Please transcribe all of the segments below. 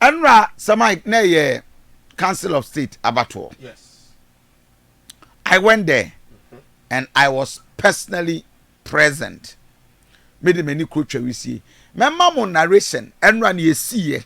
Ɛnora Samite na ɛyɛ council of state abatoɔ. I went there and I was personally present. Me de m'ani kuro twa wisie. Mɛma mo narration ɛnora ne ɛsiiɛ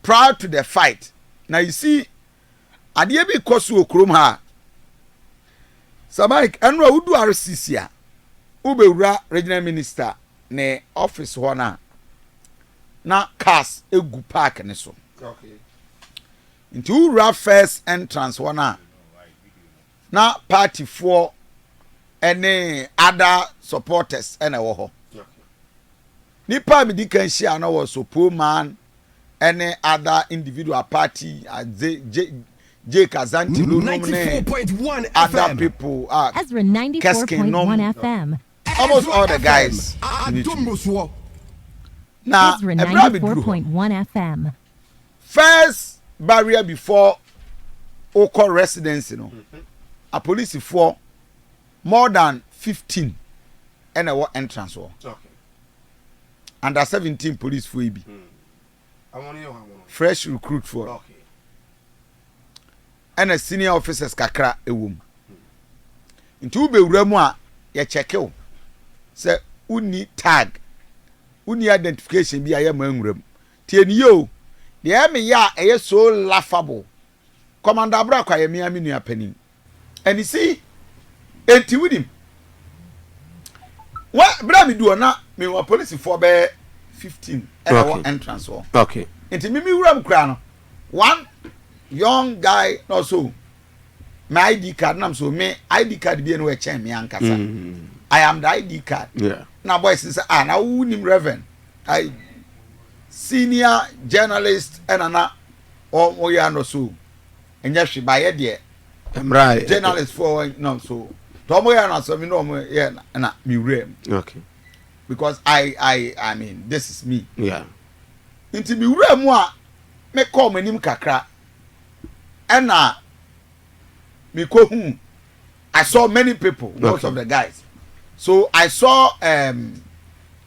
prior to the fight. Na you see Adeɛ bi rekɔ so wɔ kurom ha a, Sir Mike, ɛno a wodu RCC a, wobɛwura Regional Minister ne office hɔ no a, na cars gu park no so. Nti wowura first entrance hɔ no a, Na party foɔ ɛne other supporters ɛna ɛwɔ hɔ. Nipa a medi kan hyia no was Opoman ɛne other individual party adze J Jake Azanti no nom ne other people a Keskin nom almost all the guys meet. Na ɛberɛ a meduru hɔ. first barrier before wokɔ residency no apolisifoɔ more than fifteen ɛna ɛwɔ entrance hɔ under seventeen policefoɔ yi bi fresh recruit foɔ ɛna senior officers kakra ɛwɔ mu nti wobɛwura mu a yɛkyɛke wo sɛ wonni tag wonni identification bi a yɛma nwura mu Tie no yie o, deɛ ɛyɛ me ya a ɛyɛ so laughable, Commandor Abrako yɛ me ara me nua panin. And you see, enti wonim, wɛ, berɛ a medu hɔ na mewɔ apolisifoɔ bɛyɛ 15 ɛna ɛwɔ Okay. entrance hɔ. Okay. Nti me me wuram koraa no, one young guy na ɔsɔ me ID card nam so me ID card bie no ɛkyɛn me ankasa. Mm. I am the ID card. Yeah. Na boys no sɛ, ah, na wonim Reverend? ai senior journalist ɛna na ɔmo yɛ ano so ɛnyɛ hwe ba yɛ deɛ mmra journalist foɔ wɔ nam so tɔ ɔmo yɛ ano asɛm mi na ɔmo yɛ ɛna mi wura mu okay because i i i mean this is me yeah nti mi wura mu a me kɔ ɔmo anim kakra ɛna mi kɔ hu i saw many people most okay. of the guys so i saw um,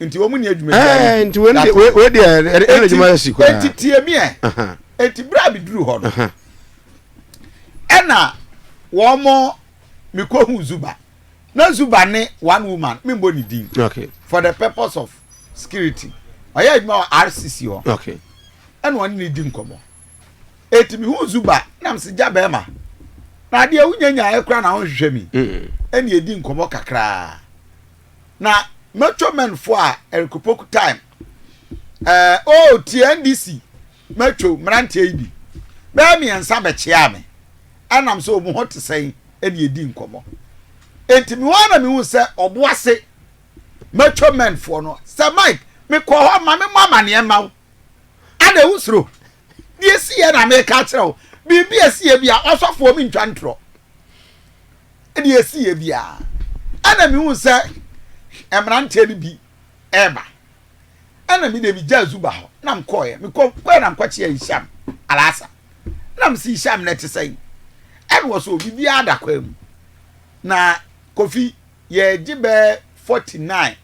nti wɔn ni adwuma bi ayɛ nti wɔn de wɔn de ɛna adwuma yɛ si koraa nti tie mi ɛ nti bere a mi duru hɔ no ɛna wɔn mo mi kɔ hu zuba na zuba ne one woman mi bɔ ne din for the purpose of security ɔyɛ adwuma wɔ rcc hɔ ɛna wɔn ne di nkɔmɔ eti mi hu zuba na mi si gya bɛrima na adeɛ wunyanya ɛkura na wɔn hwehwɛ mi ɛna edi nkɔmɔ kakraa. na mɛtwa mɛn fo a ɛrekopoku time ɛɛ o oh, tie ndc mɛtwa mmeranteɛ yi bi bɛɛ mmiɛnsa bɛkyea me ɛnam sɛ wɔn ho te sɛn ɛne ɛdi nkɔmmɔ nti me wɔn na mehu sɛ ɔbo ase mɛtwa mɛn foɔ no sɛ mike mekɔ hɔ ma me mɔ amaneɛ ma wo ana ɛwo soro deɛ ɛsi yɛ na meka kyerɛ wo biribi ɛsi yɛ bi a ɔsɔfoɔ mentwa ntorɔ Ɛnna ɛsiiɛ bi ara, ɛnna mehuu sɛ mmeranteɛ no bi reba, ɛnna me deɛ megyaa Zuba hɔ na mekɔeɛ. Mekɔeɛ na mekɔkyeaa Hisham Al-Assad, na mese, Hisham nnɛ te sɛn? Ɛnna ɔse, O, biribiara da kwan mu. Na Kofi, yɛregye bɛyɛ forty nine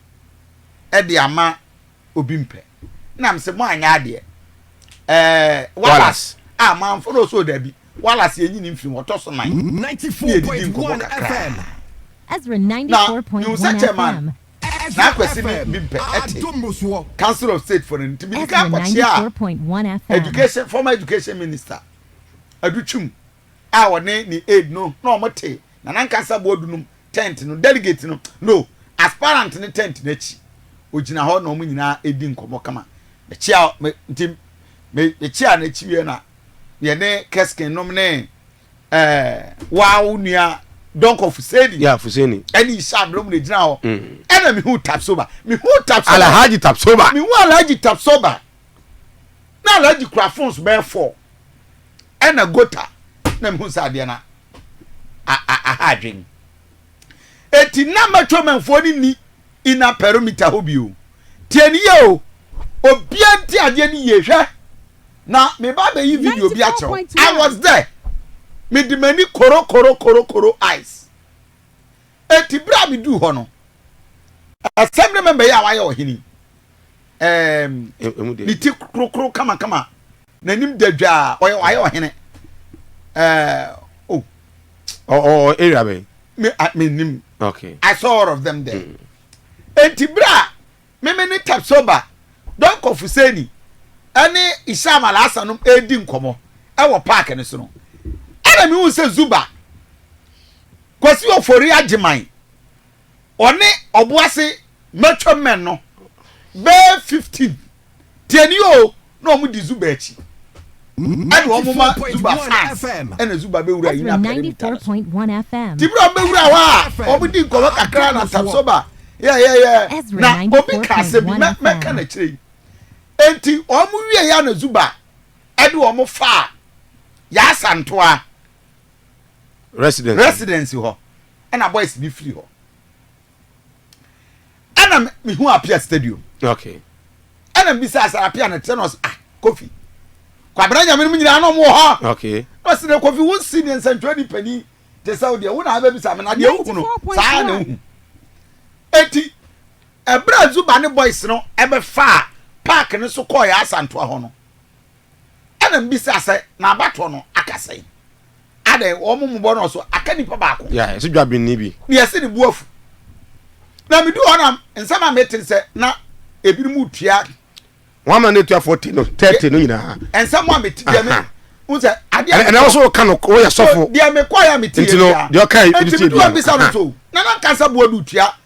de ama obi mpɛ na m sɛ mo anyɛ adeɛ ɛɛ walas a manfo no ɔsɛ ɔdabi walas yɛnyi ne mfiri mu ɔtɔ so nan ne yɛdidi nkɔmmɔ kakra na mehu sɛ chairman na akwasi ne bi mpɛ ɛte council of state for no nti mede ka akɔkyea a education former education minister adutwum a ɔne ne aide no na wɔn te na nankasa boɔ dunum tent no delegate no no aspirant no tent no akyi ɔgyina hɔ na wɔn nyinaa ɛdi nkɔmɔ kama mekyia me nti me mekyia no akyi wie na yɛne keskin nom ne ɛɛ waa wo nua dɔnkɔ fuseni yeah fuseni ɛne isa abirɛ mu na ɛgyina hɔ mm. ɛna mehu tapsoba mehu tapsoba alhaji tapsoba mehu alhaji tapsoba na alhaji kura phones bɛɛ fɔɔ Ɛna gota na mehu sɛ adeɛ no aha adwen. Eti na matwamanfoɔ no ni ina perimeter hɔ bio. Tie no yie o, obia nti adeɛ no yie hwɛ na meba abɛyi video bi akyerɛ wo. I was there. Mede m'ani koro koro koro koro eyes. Enti bere a miduu hɔ no, Assembly member yi a wayɛ ɔhene, ɛɛm, ne ti korokoro kamakama, n'anim dadwaa, ɔyɛ wayɛ ɔhene, ɛɛ, o. Oh. Ɔ area bɛn? Me, I, me nim. Okay. I saw all of them there. Mm. Enti bere a Me me ne Tapsoba Donkor Fuseni ne Isham Alhassan nom redi nkɔmmɔ wɔ park no so no, ɛna mehuu sɛ Zuba, Kwasi Ofori Agyeman, ɔne Ɔboase Mature Men no, bɛyɛ 15, tie ni oo, na wɔn di Zuba akyi ɛna wɔn ma Zuba fans ɛna Zuba bɛ wura yi na pɛrɛ bi ta so tibira wɔn bɛ wura hɔ a wɔn di nkɔmɔ kakra na tapsoba yɛyɛyɛ na obi ka asɛm bi mɛ mɛ ka n'akyire yi eti wɔn wie ya na Zuba ɛde wɔn fa yaasa ntoa residence hɔ ɛna boys bi firi hɔ. ɛna mehu apia stadium okay ɛna mbisa asara apia na tena ɔs ah kofi kwabena nyame no mu nyinaa na ɔmo wɔ hɔ okay na ɔsi na kofi wo si ne nsɛntwerɛ ni panyin te sɛ wo deɛ wo na abɛbisa me na deɛ wohu no saa na wohu eti ɛberɛ a zuba ne boys no ɛbɛfaa paaki no so kɔɔ yɛ asantoa hɔ no Ɛna mibisa sɛ, Na abatoɔ no aka sɛn? Adɛn, wɔn mmobɔ no so aka nipa baako? Ya, yɛse dwabenni bi. Na yɛse ne bo afu. Na miduu hɔ na nsɛm a mete ne sɛ na ebinom retua. Wɔn amena n'atuafoɔ te no, thirty no nyinaa. Nsɛm a mete deɛ me, wohu sɛ adeɛ a. Ɛna wo nso woka no, woyɛ sɔfo. Deɛ mekɔeɛ a mete yɛ biara. Nti no, deɛ ɔkae, ebi tie biara. Nti miduu hɔ mibisa no nso, na na nka sɛ boaduotua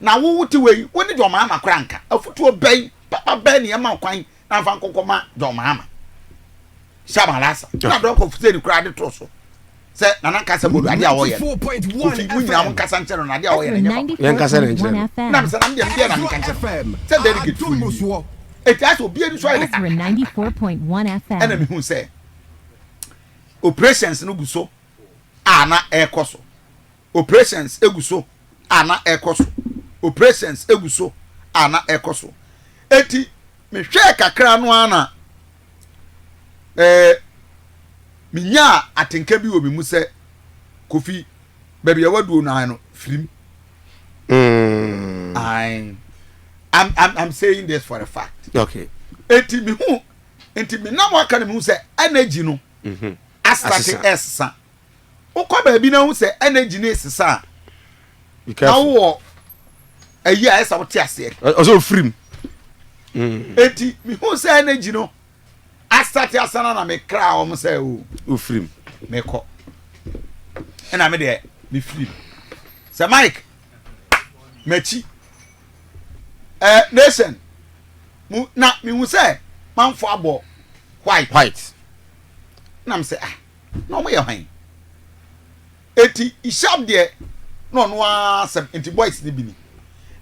Na wo wo te wɔ yi, wo ne John Mahama koraa nka. Afutuo bɛn, papa bɛn na yɛma wo kwan na nfa nkɔkɔ ma John Mahama? Sham Alasa, na Doc of Zen koraa de too so sɛ Nana nkasa mmɔ do, adeɛ a ɔyɛ no, Kofi, mo nyinaa mo nkasa nkyerɛ no no, adeɛ a ɔyɛ no nyɛ papa. Yɛn nkasa na nkyerɛ no. Na me sɛ, na me deɛ, me deɛ na me nka nkyerɛ no, sɛ delegate foɔ yi nie. Eti asɛ obi ani so ayɛ dakatakata. Ɛna me hu sɛ, operations no gu so a na ɛɛkɔ so. Operations gu so a na ɛkɔ so. Operations gu so a na ɛkɔ so. Enti mehwɛɛ kakra no ara na eh, menyaa atenka bi wɔ me mu sɛ, Kofi, baabi a waduo no ara no, firim. Mm. Ae. I'm, I'm, I'm saying this for a fact. Okay. Enti mehu, enti menam aka no mehu sɛ energy no mm-hmm. asate ɛsesa. Wokɔ baabi na wohu sɛ energy no resesa a, na wowɔ ayi a ɛsɛ wote aseɛ. Ɔsɛ ofiri mu. Mm. Eti mehu sɛ energy no asate asana na mekra wɔn sɛ o. Ofiri mu. Mekɔ. Ɛna me deɛ mefiri mu. Sɛ Mike m'akyi ɛɛ eh, nation mu na mehu sɛ manfo abɔ white. White. Na me sɛ ah. na ɔmo yɛ hann. Enti Isham deɛ na ɔno ara asɛm nti boys no bi ni.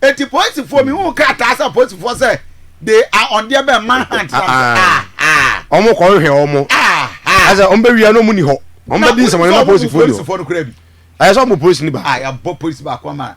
Enti polisifoɔ mi hu krataa sɛ polisifoɔ sɛ they are on deɛ bɛn man hunt na sɛ ahaa. Ɔmo kɔ hwehwɛ ɔmo. Ahaa. Asɛ ɔmo bɛ wia na ɔmo ni hɔ. Ɔmo bɛ di nsɛmɔne na polisifoɔ ni hɔ. Ɛyɛ sɛ ɔmo polisi ni baako. Ayɛ bɔ polisi baako ama.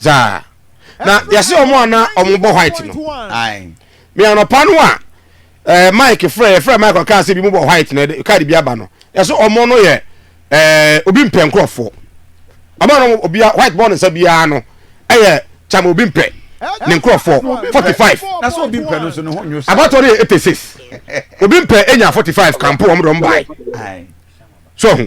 zaa na yɛse ɔmo a na ɔmo bɔ white no me anɔpa no a ɛɛ eh, mike frɛ yɛfrɛ mike ɔkaa sɛ bi mu bɔ white na kaade bi aba no yɛse ɔmo no yɛ ɛɛ eh, obi mpɛ nkorɔfoɔ ɔmo no obi white bɔ ne nsa biara no ɛyɛ kyama obi mpɛ ne nkorɔfoɔ forty five abatɔ no yɛ eighty six obi mpɛ enya forty five kampo ɔmo dɔm baae so ho.